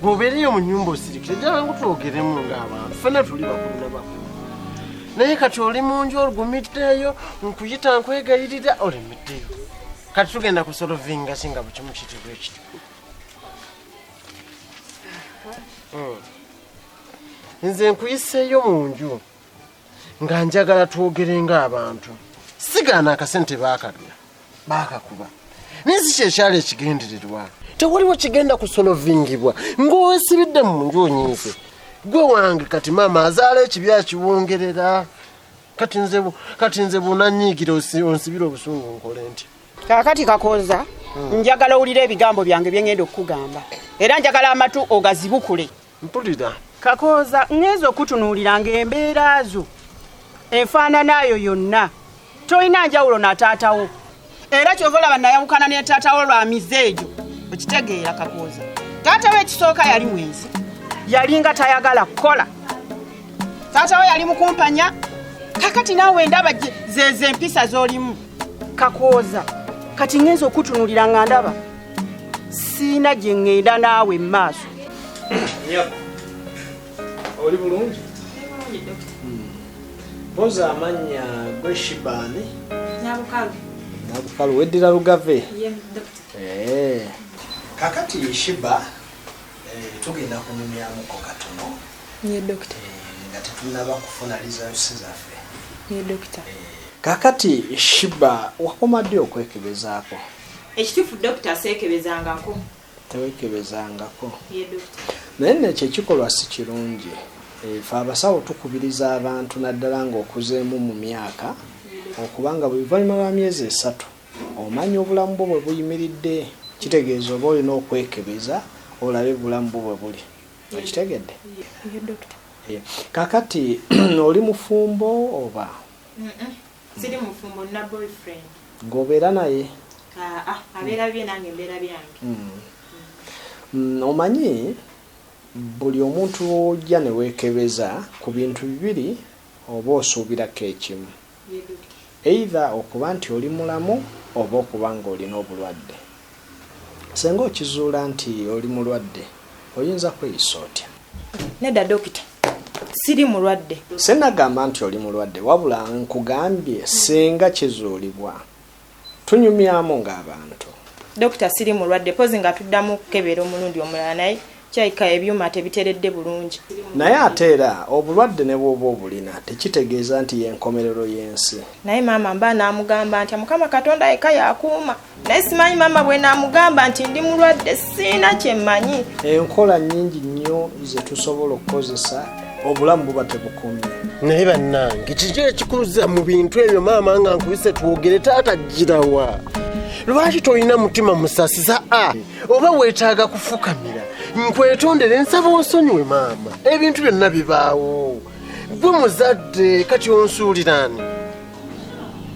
bwobeereyo mu nyumba osirikire jangu twogeremu ng'abantu fena tuli bakulu na bakulu naye kati oli mu nju olugumiddeeyo nkuyita nkwegayirira olemeddeyo kati tugenda kusolovinga singa bukimu kitibwa ekiti hmm. nze nkuyiseeyo mu nju nga njagala twogere ng'abantu sigaana akasente baakabya baakakuba naye si kyekyali ekigendererwa tewaliwo kigenda kusolovingibwa ng'owesibidde mu nju onyiize gwe wange kati maama azaala ekibi akiwongerera kati nze bunanyiigira onsibira obusungu nkole nti kakati kakonza hmm. njagala owulire ebigambo byange byengenda okukugamba era njagala amatu ogazibukule mpulira kakooza ŋŋenza okutunuulira ng'embeera zo enfaananaayo yonna tolina njawulo na taatawo era kyova olaba nayawukana ne taatawo lwa mize egyo okitegeera kakooza taatawo ekisooka yali mwenzi yalinga tayagala kukola taatawo yali mukumpanya kakati naawe ndaba zezo empisa z'olimu kakooza kati ŋŋenza okutunuulira nga ndaba siina gye ŋŋenda naawe mu maaso oli bulungi boza amannya gwe shibani nabukalu weddira lugave eh. kakati shiba eh, tugenda kunyumyamuko katono eh, nga tetunaba kufuna lizalusi zaffe kakati shiba wakomadde okwekebezaako Ekitufu doctor seekebezaangako. Teweekebezaangako. Ye doctor. Naye nno ekyo ekikolwa si kirungi. Eh, fe abasawo tukubiriza abantu naddala ng'okuzeemu mu myaka okuba nga buli luvannyuma lwa myezi esatu omanya obulamu bwo bwe buyimiridde kitegeeza oba olina okwekebeza olabe bulamu bwo bwe buli okitegedde kakati oli mufumbo oba Siri mufumbo na boyfriend. Ngobeera naye. Ah, ah abeera bye nange mbeera byange. Mm. Mm, omanyi buli omuntu ojja ne weekebeza ku bintu bibiri oba osuubirako ekimu. Either okuba nti oli mulamu oba okuba ng'olina obulwadde. Senga okizuula nti oli mulwadde oyinza kweyisa otya? Nedda dokita siri mulwadde. Sinagamba nti oli mulwadde wabula nkugambye senga kizuulibwa tunyumyamu ng'abantu. Dokita siri mulwadde pozi nga tuddamu kukebera omulundi omulala naye Kirabika ebyuma tebiteredde bulungi. Naye ate era obulwadde ne bw'oba obulina tekitegeeza nti y'enkomerero y'ensi. Naye maama mba naamugamba ntya? Mukama Katonda yekka y'akuuma naye simanyi maama bwe naamugamba nti ndi mulwadde sirina kye mmanyi. Enkola nnyingi nnyo ze tusobola okukozesa obulamu buba tebukomye. Naye bannange kiki ekikuluza mu bintu ebyo maama nga nkubise twogere taata ggirawa? Lwaki tolina mutima musasiza a? oba weetaaga kufukamira nkwetondere nsaba onsonyiwe maama ebintu byonna bibaawo gwe muzadde kati onsuuliraani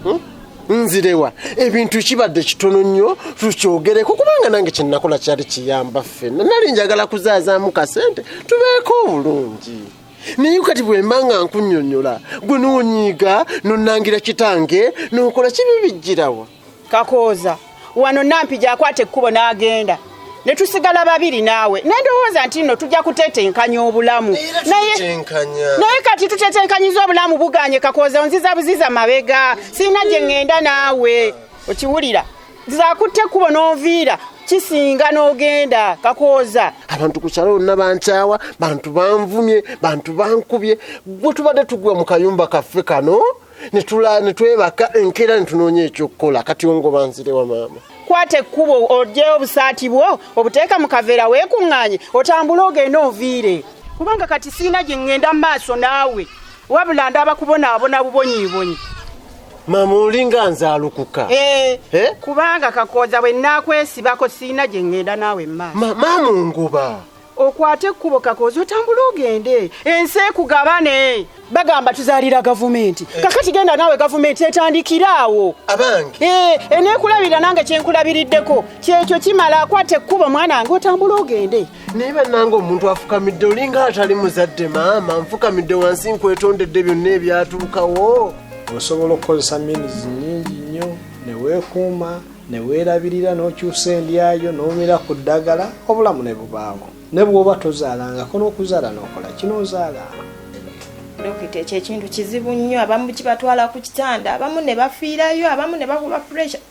hmm? nzirewa ebintu kibadde kitono nnyo tukyogereko kubanga nange kyenakola kyali kiyamba ffena nali njagala kuzaazaamu kasente tubeeko obulungi naye kati bwemba nga nkunyonyola gwe nonyiiga nonangira kitange nokola kibi bijjirawa kakooza wano nampi gyakwata ekkubo n'agenda ne tusigala babiri naawe naye ndowooza nti nno tujja kutetenkanya obulamu naye kati tutetenkanyiza obulamu buganye kakooza onziza buziza mabega sirina gye ŋŋenda naawe okiwulira zakutte ekkubo n'onviira kisinga n'ogenda kakooza abantu ku kyalo bonna bankyawa bantu banvumye bantu bankubye gwe tubadde tugwa mu kayumba kaffe kano netula netwebaka enkeera netunoonya ekyokukola kati ongoba nzire wa maama kwata ekkubo ojeyo obusaati bwo obuteeka mu kaveera weekuŋŋaanye otambule ogende oviire kubanga kati siina gye ŋŋenda mu maaso naawe wabula ndaba kubonaabona bubonyiibonyi maama olinga nze alukuka eh, eh? kubanga kakooza bwe naakwesibako siina gye ŋŋenda naawe mu maaso maama ongoba okwate ekkubo kakoozi otambule ogende ensi ekugabane bagamba tuzalira gavumenti eh. kakati genda naawe gavumenti etandikira awo abange eh, enekulabirira nange kyenkulabiriddeko kyekyo kimala akwata ekkubo mwana wange otambule ogende naye banange omuntu afukamidde olinga atali muzadde maama nfukamidde wansi nkwetondedde byonna ebyatuukawo osobola okukozesa minizi nyingi nnyo neweekuuma ne weerabirira n'okyusa endya yo n'omira ku ddagala obulamu ne bubaawo ne bw'oba tozaalangako n'okuzaala n'okola kino ozaala dokita ekyo ekintu kizibu nnyo abamu kibatwala ku kitanda abamu ne bafiirayo abamu ne bakuba pressure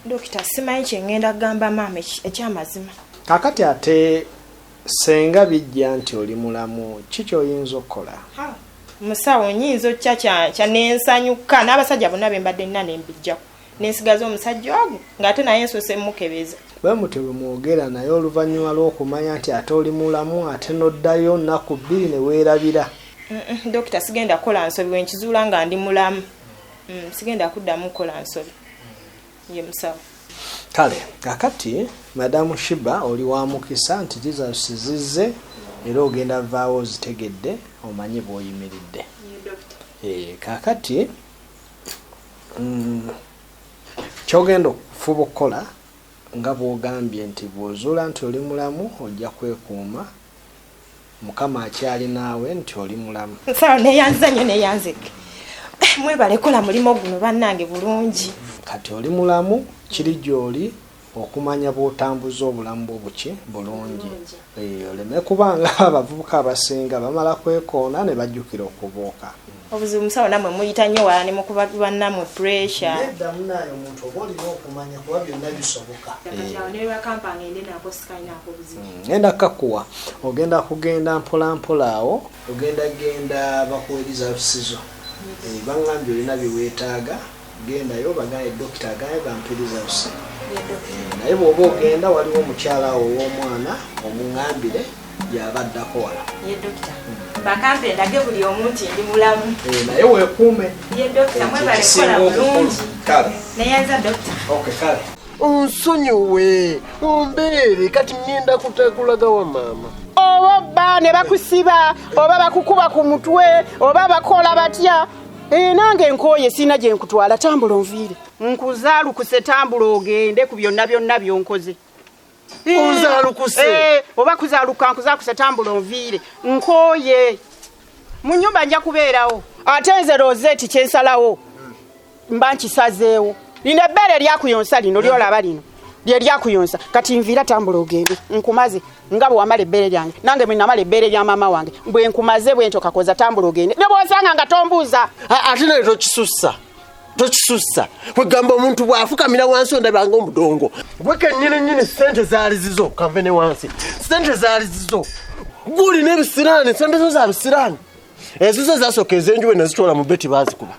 dokita simanyi kyengenda kugamba maama ekyamazima kakati ate senga bijja nti oli mulamu ki kyoyinza okukola musawo nyinza okukya kyanensanyuka n'abasajja bonna bembadde nina nembijjaku nensigaza omusajja ogwo ng'ate naye nsose mukebeza bwe mutyo bwe mwogera naye oluvannyuma lw'okumanya nti ate oli mulamu ate n'oddayo nnaku bbiri ne weerabira dokita sigenda kukola nsobi bwe nkizuula nga ndi mulamu mm, sigenda kuddamu kukola nsobi ye musawo kale kakati madamu shiba oli wa mukisa nti jesus zizze era ogenda vaawo ozitegedde omanye bw'oyimiridde eh, kakati Mm. kyogenda okufuba okukola nga bwogambye nti bwozuula nti oli mulamu ojja kwekuuma mukama akyali naawe nti oli mulamu nsawo neyanziza nyo neyanzike eh, mwebalekola mulimu guno bannange bulungi kati oli mulamu kiri gyoli okumanya bwotambuza obulamu bwo buki bulungi eh, oleme kubanga abavubuka abasinga bamala kwekoona ne bajjukira okubuuka obuzibu musawo namwe muyita nyo wala nemukuba banamwe pressure nedda munaye omuntu oba olina okumanya kuba byonna bisoboka ngenda mm, kakuwa ogenda kugenda mpolampola awo ogenda genda bakuwa ebizabisizo eh, bangambye olina byewetaaga gendayo bagaye dokita agaye bampe results naye bwoba ogenda waliwo omukyala awo ow'omwana omungambire yaba addako wala bakampe ndage buli omu nti ndi mulamu eh, naye wekuume onsonyiwe ombeere kati ngenda kutakulaga wa maama oba bba ne bakusiba oba bakukuba ku mutwe oba bakola batya Ee, eh, nange nkooye sirina gye nkutwala tambula onviire nkuzaalukuse tambula ogende ku byonna byonna byonkoze eh, onzaalukuse eh, oba kuzaaluka nkuzaalukuse tambula onviire nkooye mu nnyumba nja kubeerawo ate nze roseeti kye nsalawo mba nkisazeewo lino ebbeere lyakuyonsa lino lyolaba lino lye lyakuyonsa kati nviira tambula ogende nkumaze nga bwe wamala ebbeere lyange nange bwe namala ebbeere lya maama wange bwe nkumaze bwe ntyo kakoza tambula ogende ne bwosanga nga tombuuza ate naye tokisussa tokisussa kwegamba omuntu bw'afukamira wansi ondabanga omudongo gwe kennyini nyini ssente zaali zizo kanve ne wansi ssente zaali zizo guli n'ebisiraani ssente zo za bisiraani ezizo ezasooka ezenjuba nazitwala mu beti bazikuba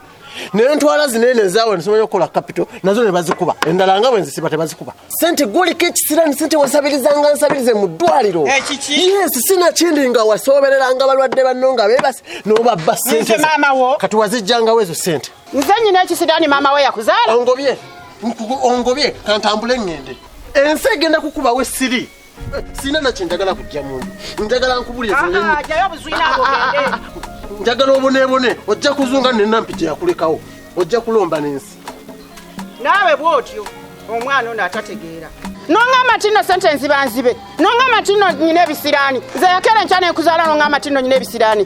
nentwala zinene ezawe nesobola okukola kapito nazo nebazikuba endala nga bwenzisiba tebazikuba sente gwoliko ekisirani sente wasabirizanga nsabirize mu ddwaliro eh, yes sina kindi nga wasobereranga balwadde banno nga bebasi nobabba sente kati wazijjangawo ezo sente nze nyina ekisirani maama we yakuzaala ongobye ongobye kantambule ngende ensi egenda kukubawo esiri sirina nakye njagala kujja mundu njagala nkubulira ah, ah, ah, njagala obonebone ojja kuzunga nenampi gyeyakulekawo ojja kulomba n'ensi naawe bwotyo omwana ono atategeera nongamba nti nno sente nziba nzibe nongamba nti nno nyina ebisiraani nze yakera enkya nenkuzaala nongamba nti nno nyina ebisiraani